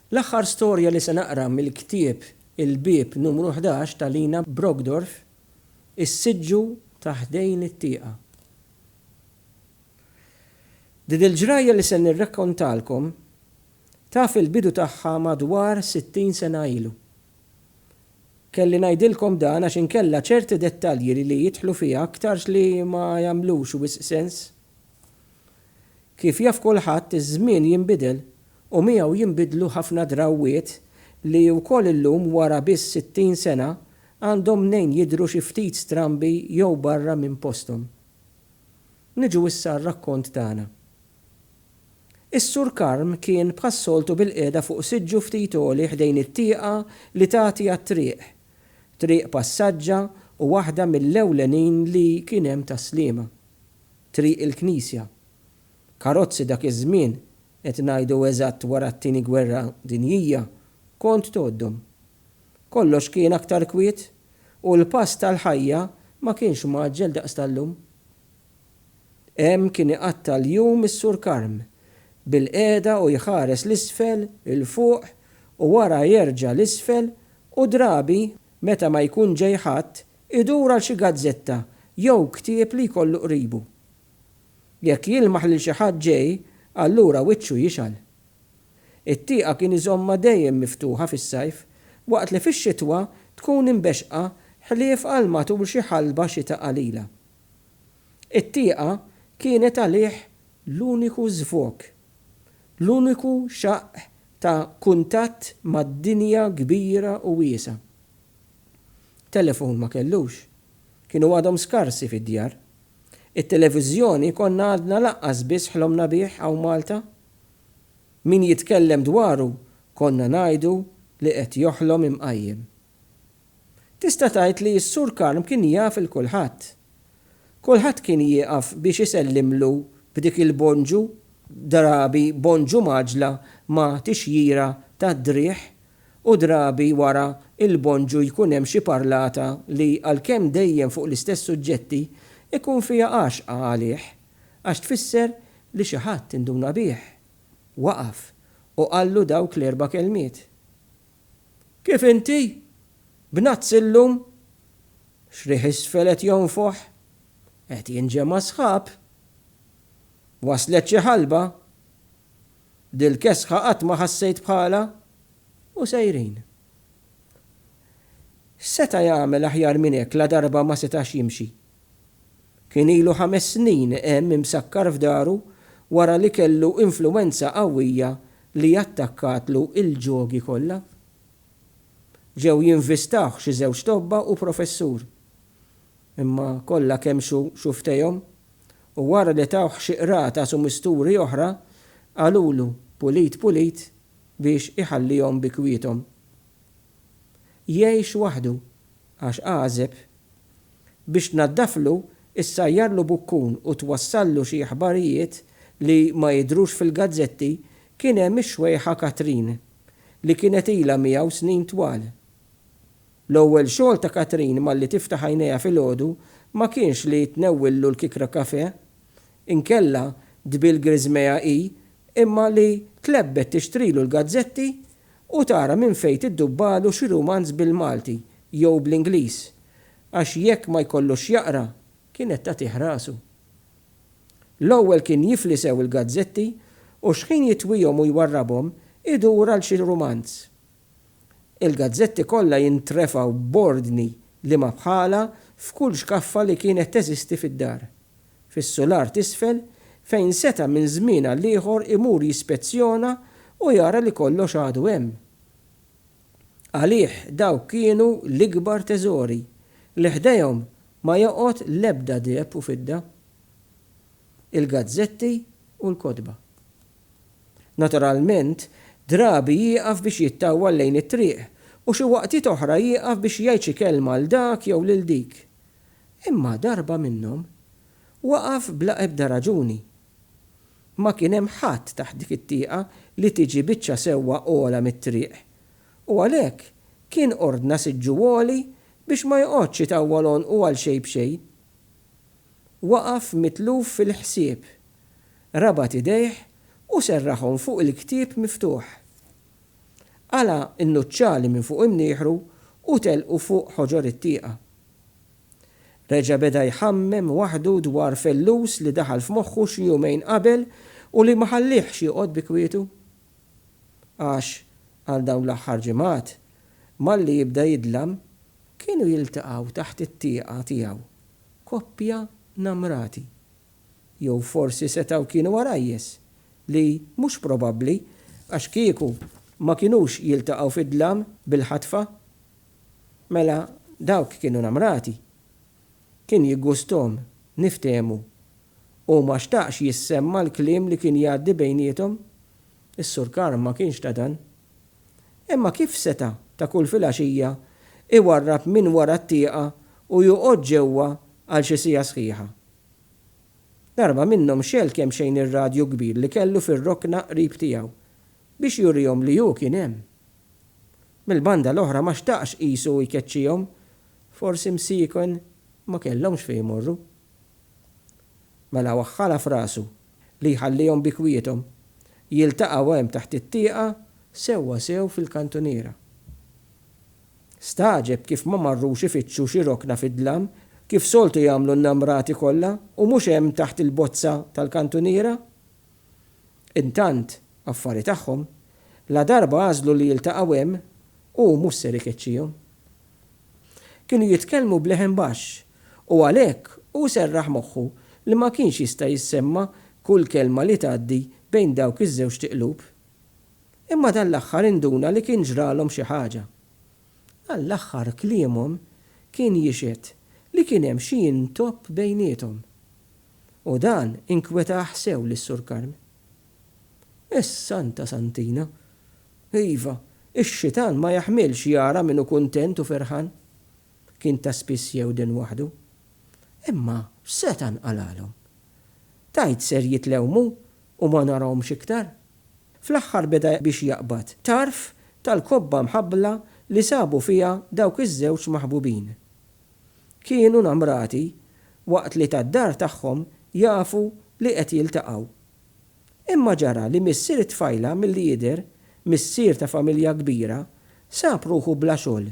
L-aħħar storja li se naqra mill-ktieb Il-Bieb Numru Ħdax ta' Lina Brockdorff, Is-Siġġu ta' Ħdejn it-Tieqa. Din il-ġrajja li se nirrakkontalkom taf il-bidu tagħha madwar sittin sena ilu. Kelli ngħidilkom dan għax inkella ċerti dettalji li jidħlu fiha aktarx li ma jagħmlux wisq sens. Kif jaf kulħadd iż-żmien jinbidel u miegħu jinbidlu ħafna drawwiet li wkoll illum wara biss 60 sena għandhom mnejn jidhru xi ftit strambi jew barra minn posthom. Niġu issa għar-rakkont tagħna. Is-Sur Karm kien bħas-soltu bilqiegħda fuq siġġu ftit għoli ħdejn it-tieqa li tagħti għat-triq, triq passaġġa u waħda mill-ewlenin li kien hemm tas-Sliema. Triq il-Knisja. Karozzi dak iż-żmien, qed ngħidu eżatt wara t-Tieni Gwerra Dinjija, kont tgħoddhom. Kollox kien aktar kwiet u l-pass tal-ħajja ma kienx mgħaġġel daqs tal-lum. Hemm kien iqatta' l-jum is-Sur Karm, bilqiegħda u jħares 'l isfel, 'il fuq u wara jerġa' 'l isfel u drabi meta ma jkun ġej ħadd idur għal xi gazzetta jew ktieb li jkollu qribu. Jekk jilmaħ lil xi ħadd ġej, allura wiċċu jixgħal. It-tieqa kien iżommha dejjem miftuħa fis-sajf, waqt li fix-xitwa tkun imbexxqa ħlief għal matul xi ħalba xita qalila. It-tieqa kienet għalih l-uniku żvog, l-uniku xaqq ta' kuntatt mad-dinja kbira u wiesgħa. Telefon ma kellux. Kienu għadhom skarsi fid-djar. It-televiżjoni konna għadna lanqas biss ħlomna bih hawn Malta. Min jitkellem dwaru konna ngħidu li qed joħlom imqajjem. Tista' tgħid li s-Sur Karm kien jaf il kulħadd. Kulħadd kien jieqaf biex isellimlu b'dik il-bonġu, drabi bonġu mgħaġġla ma' tixjira tad-driegħ u drabi wara l-bonġu jkun hemm xi parlata li, għalkemm dejjem fuq l-istess suġġetti, ikun fiha għaxqa għalih, għax tfisser li xi ħadd induna bih, waqaf u qallu dawk l-erba' kelmiet. Kif inti? B'nazz illum? X'riħ isfel qed jonfoħ? Qed jinġema' sħab? Waslet xi ħalba? Dil-kesħa qatt ma ħassejt bħalha u sejrin. X'seta' jagħmel aħjar minn hekk ladarba ma setax jimxi? Kien ilu ħames snin hemm imsakkar f'daru wara li kellu influwenza qawwija li attakkatlu il-ġogi kollha. Ġew jinvistawh xi żewġ tobba u professur. Imma kollha kemm xu xuftejhom, u wara li tawh xi qrata su misturi oħra, qalulu pulit pulit biex iħallihom bi kwiethom. Jgħix waħdu, għax għażeb. Biex tnaddaflu, issajjarlu bukkun u twassallu xi aħbarijiet li ma jidhrux fil-gazzetti kien hemm ix-xwejħa Katrin, li kienet ilha miegħu snin twal, L-ewwel xogħol ta' Katrin malli tiftaħ għajnejha filgħodu ma kienx li tnewwillu l-kikra kafè, inkella tbil griżmejha hi, imma li tlebbet tixtrilu l-gazzetti u tara minn fejn tiddubbalu xi rumanz bil-Malti jew bl-Ingliż, għax jekk ma jkollux x'jaqra, kienet tagħtih rasu. L-ewwel kien jifli sew il-gazzetti u xħin jitwihom u jwarrabhom, idur għal xi rumanz. Il-gazzetti kollha jintrefgħu b'ordni liema bħalha f'kull xkaffa li kienet teżisti fid-dar. Fis-sular t'isfel, fejn seta' minn żmien għal ieħor imur jispezzjona u jara li kollox għadu hemm. Għalih dawk kienu l-ikbar teżori, li ħdejhom ma joqgħod l-ebda deheb u fidda. Il-gazzetti u l-kotba. Naturalment, drabi jieqaf biex jittawwal lejn it-triq u xi waqtiet oħra jieqaf biex jgħid xi kelma 'l dak jew lil dik. Imma darba minnhom, waqaf bla ebda raġuni. Ma kien hemm ħadd taħt dik it-tieqa li tiġi biċċa sewwa ogħla mit-triq, u għalhekk kien ordna siġġu għoli biex ma joqgħodx itawwal għonqu għal xejn b'xejn. Waqaf mitluf fil-ħsieb. Rabat idejh u serraħhom fuq il-ktieb miftuħ. Qala' n-nuċċali minn fuq imnieħru u telqu fuq ħoġor it-tieqa. Reġa' beda jħammem waħdu dwar fellus li daħal f'moħħu xi jumejn qabel u li ma ħalliehx joqgħod bi kwietu. Għax, għal dawn l-aħħar ġimgħat, malli jibda jidlam, kienu jiltaqgħu taħt it-tieqa tiegħu koppja namrati. Jew forsi setgħu kienu għarajjes, li mhux probabbli għax kieku ma kinux jiltaqgħu fid-dlam bil-ħatfa. Mela dawk kienu namrati. Kien jiggusthom niftehmu. Hu ma xtaqx jissemma l-kliem li kien jgħaddi bejniethom. Is-Sur Karm ma kienx ta' dan. Imma kif seta' ta' kull filgħaxija jwarrab minn wara t-tieqa u joqgħod ġewwa għal xi siegħa sħiħa? Darba minnhom xegħel kemxejn ir-radju kbir li kellu fir-rokna qrib tiegħu biex jurihom li hu kien hemm. Mill-banda l-oħra ma xtaqx qisu jkeċċihom, forsi msieken ma kellhomx fejn imorru. Mela waħħalha f'rasu li jħallihom bi kwiethom, jiltaqgħu hemm taħt it-tieqa sewwa sew fil-kantuniera. Stagħġeb kif ma marrux ifittxu xi rokna fid-dlam, kif soltu jagħmlu n-namrati kollha, u mhux hemm taħt il-bozza tal-kantuniera. Intant, affari tagħhom, ladarba għażlu li jiltaqgħu hemm, hu mhux ser ikeċċihom. Kienu jitkellmu b'leħen baxx, u għalhekk hu serraħ moħħu li ma kienx jista' jissemma' kull kelma li tgħaddi bejn dawk iż-żewġt iqlub. Imma dan l-aħħar induna li kien ġralhom xi ħaġa. Dan l-aħħar kliemhom kien jixhed li kien hemm xi intopp bejniethom. U dan inkwetah sew lis-Sur Karm. Is-Santa Santina. Iva, ix-xitan ma jaħmilx jara min hu kuntent u ferħan. Kien ta' spiss jewden waħdu. Imma s-Setan qalalhom, Tgħid ser jitlewmu u ma narahomx iktar? Fl-aħħar beda biex jaqbad tarf tal-kobba mħabbla li sabu fiha dawk iż-żewġ maħbubin. Kienu namrati waqt li tad-dar tagħhom jafu li qed jiltaqgħu. Imma ġara li missier it-tfajla milli jidher, missier ta' familja kbira, sab ruħu bla xogħol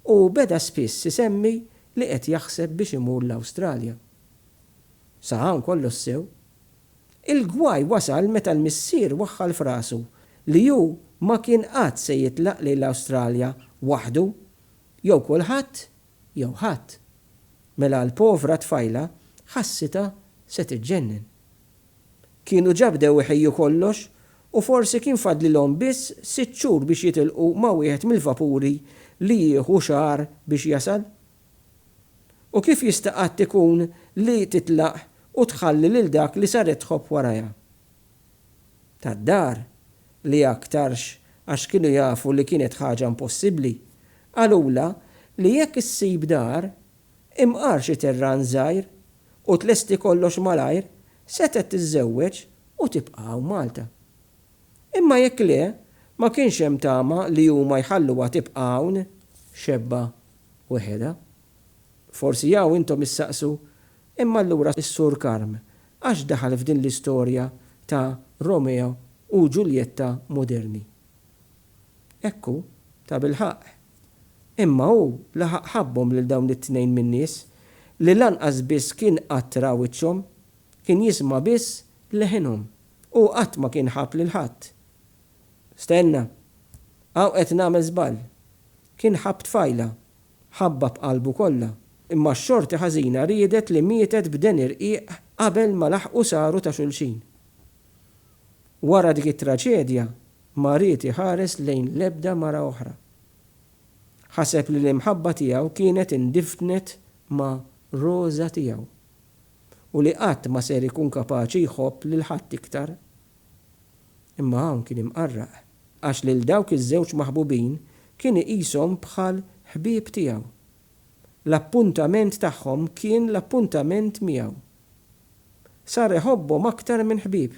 u beda spiss isemmi li qed jaħseb biex imur l-Awstralja. Sa hawn kollox sew. Il-gwaj wasal meta l-missier waħħal f'rasu li hu ma kien qatt se jitlaq lejn l-Awstralja waħdu, jew kulħadd jew ħadd, mela l-povra tfajla ħassitha se tiġġennen. Kienu ġa bdew iħejju kollox u forsi kien fadlilhom biss sitt xhur biex jitilqu ma' wieħed mill-vapuri li jieħu xahar biex jasal. U kif jista' qatt ikun li titlaq u tħalli lil dak li saret tħobb warajha? tad-dar, li aktarx għax kienu jafu li kienet ħaġa impossibbli, qalulha li jekk issib dar, imqar xi terran żgħir u tlesti kollox malajr, setgħet tiżżewweġ u tibqa' hawn Malta. Imma jekk le, ma kienx hemm tama li huma jħalluha tibqa' hawn xebba weħedha. Forsi hawn intom issaqsu Imma allura s-Sur Karm għax daħal f'din l-istorja ta' Romeo u Ġuljetta moderni? Hekk hu, tabilħaqq. Imma hu laħaq ħabbhom lil dawn it-tnejn minn nies li lanqas biss kien qatt ra wiċċhom, kien jisma' biss leħinhom. Hu qatt ma kien ħabb lil ħadd. Stenna! Hawn qed nagħmel żball. Kien ħabb tfajla, Ħabba b'qalbu kollha, imma x-xorti ħażina riedet li mietet b'den irqiq qabel ma laħqu saru ta' xulxin. Wara dik it-traġedja ma ried iħares lejn l-ebda mara oħra. Ħaseb li l-imħabba tiegħu kienet indifdnet ma' Rosa tiegħu u li qatt ma ser ikun kapaċi jħobb lil ħadd iktar. Imma hawn kien imqarraq, għax lil dawk iż-żewġ maħbubin kien iqishom bħal ħbieb tiegħu. L-appuntament tagħhom kien l-appuntament miegħu. Sar iħobbhom aktar minn ħbieb.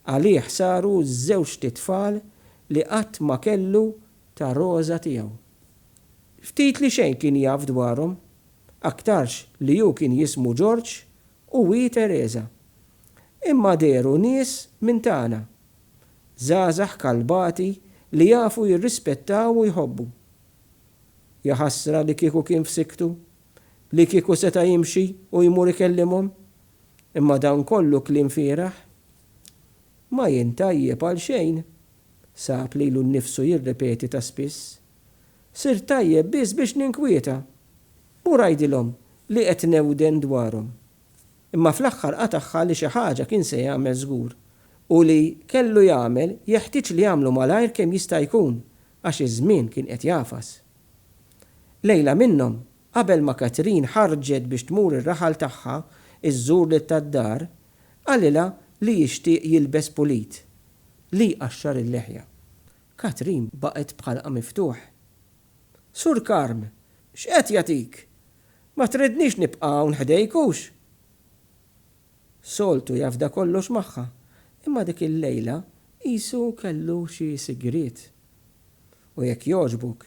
Għalih saru ż-żewġt itfal li qatt ma kellu ta' Roża tiegħu. Ftit li xejn kien jaf dwarhom, aktarx li hu kien jismu Ġorġ U hi Teresa. Imma dehru nies minn tagħna. Żgħażagħ kalbati li jafu jirrispettaw u jħobbu. Jaħasra li kieku kien f'sikktu, li kieku seta' jimxi u jmur ikellimhom. Imma dan kollu kliem fieragħ. Ma jien tajjeb għal xejn, sab lilu nnifsu jirrepeti ta' spiss. Sirt tajjeb biss biex ninkwieta. Mur għidilhom li qed newden dwarhom. Imma fl-aħħar qatagħha li xi ħaġa kien se jagħmel żgur. U li kellu jagħmel jeħtieġ li jagħmlu malajr kemm jista' jkun għax iż-żmien kien qed jagħfas. Lejla minnhom, qabel ma Catherine ħarġet biex tmur ir-raħal tagħha żżur lil tad-dar, qalilha li jixtieq jilbes pulit, li jqaxxar il-leħja. Katrin baqgħet b'ħalqha miftuħ. Sur Karm, x'qed jagħtik? Ma tridnix nibqa' hawn ħdejk, hux? Soltu jafda kollox magħha, imma dik il-lejla qisu kellu xi sigriet. U jekk jogħġbok,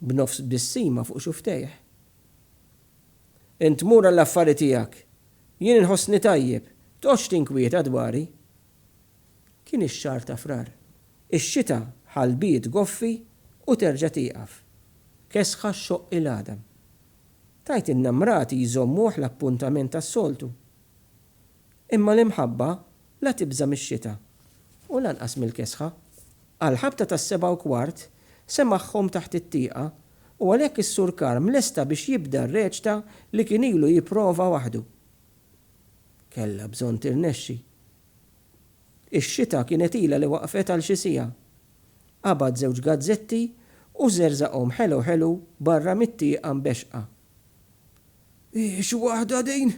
b'nofs tbissima fuq xufftejh. Int mur għall-affari tiegħek. Jien inħossni tajjeb, tqgħodx tinkwieta dwari. Kien ix-xahar ta' Frar. Ix-xita ħalbiet goffi u terġa' tieqaf. Kesħa xxoqq il-għadam. Tgħidilna mrati jżommuh l-appuntament tas-soltu. Imma l-imħabba la tibża' mix-xita u lanqas mill-kesħa. Għall-ħabta tas-sebgħa u kwart semagħhom taħt it-tieqa u għalhekk is-Sur Karm lesta biex jibda r-reċta li kien ilu jipprova waħdu. Kellha bżonn tirnexxi. Ix-xita kienet ilha li waqfet għal xi siegħa. Qabad żewġ gazzetti u żerżaqhom ħelu ħelu barra mit-tieqa mbexxqa. Hi xi waħda din!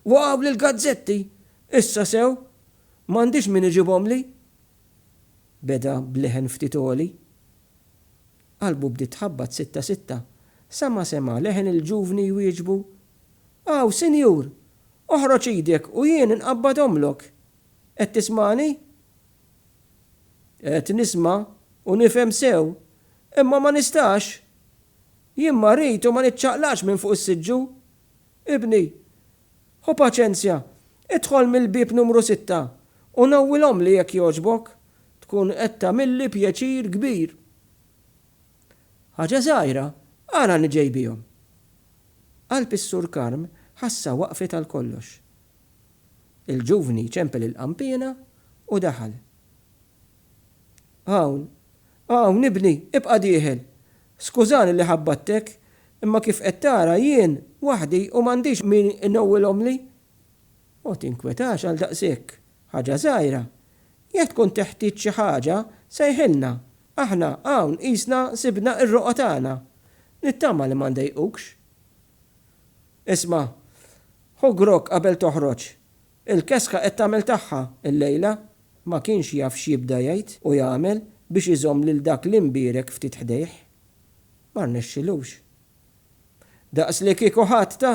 Waqgħuli l-gazzetti! Issa sew! M'għandix min iġibhomli! beda b'leħen ftit għoli. Qalbu bdiet tħabbat sitta sitta sa ma sema' leħen il-ġuvni jwieġbu, Aw, Sinjur, oħroġ idek u jien inqabbadhomlok. Qed tismagħni? Qed nisma' u nifhem sew, imma ma nistax. Jien marid u ma niċċaqlaqx minn fuq is-siġġu. Ibni, ħu paċenzja, idħol mill-bieb numru sitta u nawwilhomli jekk jogħġbok. Tkun qed tagħmilli pjaċir kbir. Ħaġa żgħira, ara li ġej bihom! Qalb is-Sur Karm ħassha waqfet għal kollox. Il-ġuvni ċempel il-qanpiena u daħal. Hawn, hawn, ibni, ibqa' dieħel! Skużani li ħabbattek, imma kif qed tara jien waħdi u m'għandix min inewwilhomli. Ma tinkwetax għal daqshekk, ħaġa żgħira. Jekk tkun teħtieġ xi ħaġa, sejħilna. Aħna hawn qisna sibna r-roqgħa tagħna. Nittama li ma ndejqukx. Isma', ħu grokk qabel toħroġ. Il-kesħa qed tagħmel tagħha llejla. Ma kienx jaf x'jibda jgħid u jagħmel biex iżomm lil dak l-imbierek ftit ħdejh. Ma rnexxilux. Daqs li kieku ħadd ta.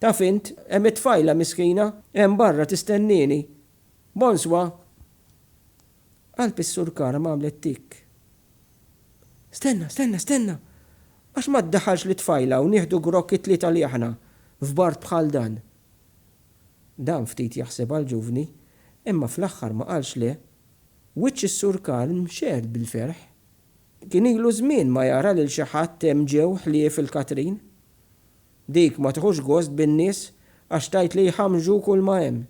Taf int, hemm it-tfajla miskina, hemm barra tistennieni. Bonswa! Qalb is-Sur Karam għamlet tikk. Stenna, stenna, stenna! Għax ma ddaħħalx lit-tfajla u nieħdu grokk it-tlieta li aħna, f'bard bħal dan? Dan ftit jaħseb għall-ġuvni, imma fl-aħħar ma qalx le. Wiċċ is-Sur Karm xehed bil-ferħ. Kien ilu żmien ma jara lil xi ħadd hemm ġew ħlief il-Katrin. Dik ma tiħux gost bin-nies għax tgħid li jħammġu kulma hemm.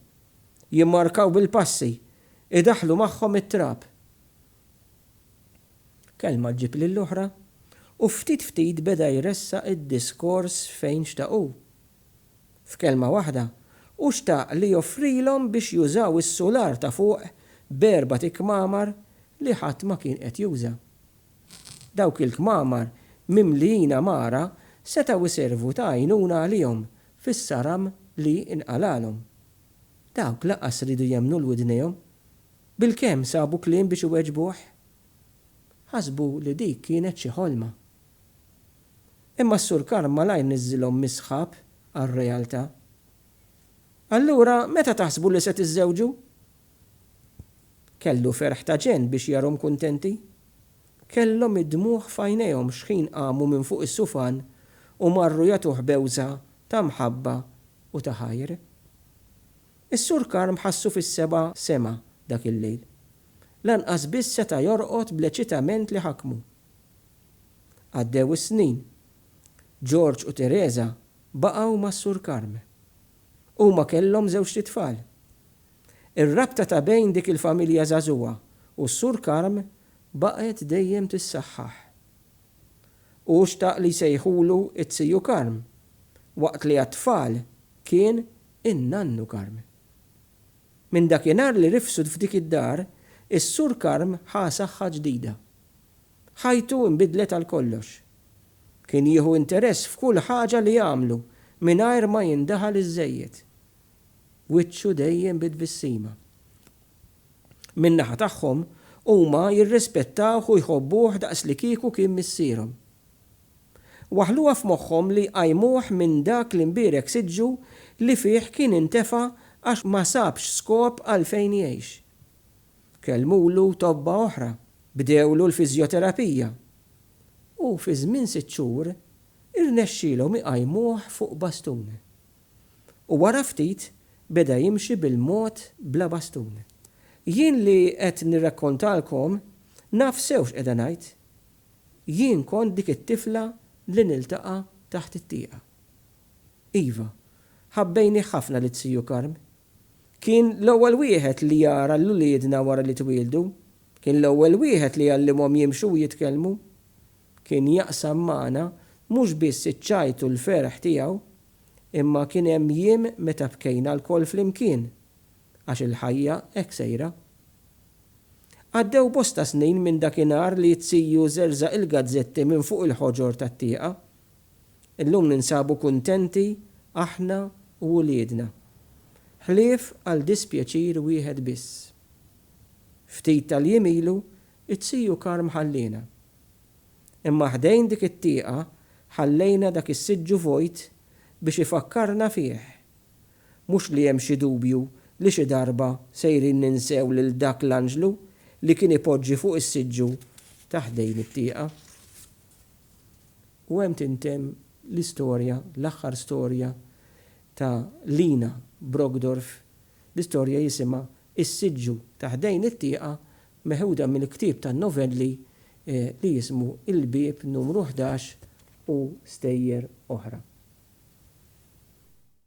Jimmarkaw bil-passi, idaħħlu magħhom it-trab. Kelma ġġib lill-oħra u ftit ftit beda jressaq id-diskors fejn xtaq hu. F'kelma waħda, hu xtaq li joffrilhom biex jużaw is-sular ta' fuq b'erbat ikmamar li ħadd ma kien qed juża. Dawk il-kmamar mimlijin għamara setgħu jservu ta' għajnuna għalihom fis-saram li nqalagħlhom. Dawk lanqas riedu jemmnu 'l widnejhom. Bilkemm sabu kliem biex iweġbuh? Ħasbu li dik kienet xi ħolma. Imma s-Sur Karm malajr niżżilhom mis-sħab għar-realtà. Allura meta taħsbu li se tiżżewġu? Kellu ferħ ta' ġenn biex jarhom kuntenti. Kellhom id-dmugħ f'għajnejhom xħin qamu minn fuq is-sufan u marru jagħtuh bewża ta' mħabba u ta' ħajr. Is-Sur Karm ħassu fis-seba' sema dak il-lejl. Lanqas biss seta' jorqod bl-eċitament li ħakmu. Għaddew is-snin. George u Teresa baqgħu mas-Sur Karm. Huma kellhom żewġt itfal. Ir-rabta ta' bejn dik il-familja żagħżugħa u s-Sur Karm baqgħet dejjem tissaħħaħ. Hu xtaq li jsejħulu t-Tiju Karm, waqt li għat-tfal kien in-Nannu Karm. Minn dakinhar li rifsud f'dik id-dar, is-Sur Karm ħa saħħa ġdida. Ħajtu nbidlet għal kollox. Kien jieħu interess f'kull ħaġa li jagħmlu mingħajr ma jindaħal iżżejjed. Wiċċu dejjem bi tbissima. Min-naħa tagħhom, huma jirrispettawh u jħobbuh daqslikieku kien missierhom. Waħħluha f'moħħhom li jqajmuh minn dak l-imbierek siġġu li fih kien intefa' għax ma sabx skop għalfejn jgħix. Kellmulu tobba oħra, bdewlu l-fiżjoterapija u fi żmien sitt xhur irnexxielhom iqajmuh fuq bastun. U wara ftit beda jimxi bil-mod bla bastun. Jien li qed nirrakkontalkom naf sew x'qiegħda ngħid. Jien kont dik it-tifla li niltaqa' taħt it-tieqa. Iva, ħabbejnih ħafna lit-Siju Karm. Kien l-ewwel wieħed li jara lil uliedna wara li twieldu. Kien l-ewwel wieħed li għallimhom jimxu u jitkellmu. Kien jaqsam magħna mhux biss iċ-ċajt u l-ferħ tiegħu, imma kien hemm jiem meta bkejna lkoll flimkien, għax il-ħajja hekk sejra. Għaddew bosta snin minn dakinhar li t-Siju żerżaq il-gazzetti minn fuq il-ħoġor tat-tieqa Illum ninsabu kuntenti aħna u uliedna, ħlief għal dispjaċir wieħed biss. Ftit tal-jiem ilu t-Tiju Karm ħalliena. Imma ħdejn dik it-tieqa ħallejna dak is-siġġu vojt biex ifakkarna fih. Mhux li hemm xi dubju li xi darba sejrin ninsew lil dak l-anġlu li kien ipoġġi fuq is-siġġu ta' ħdejn it-tieqa. u hemm tintemm l-istorja, l-aħħar storja ta' Lina Brockdorff, l-istorja jisimha Is-Siġġu ta' Ħdejn it-Tieqa meħuda mill-ktieb tan-novelli li jismu Il-Bieb Numru Ħdax u stejjer oħra.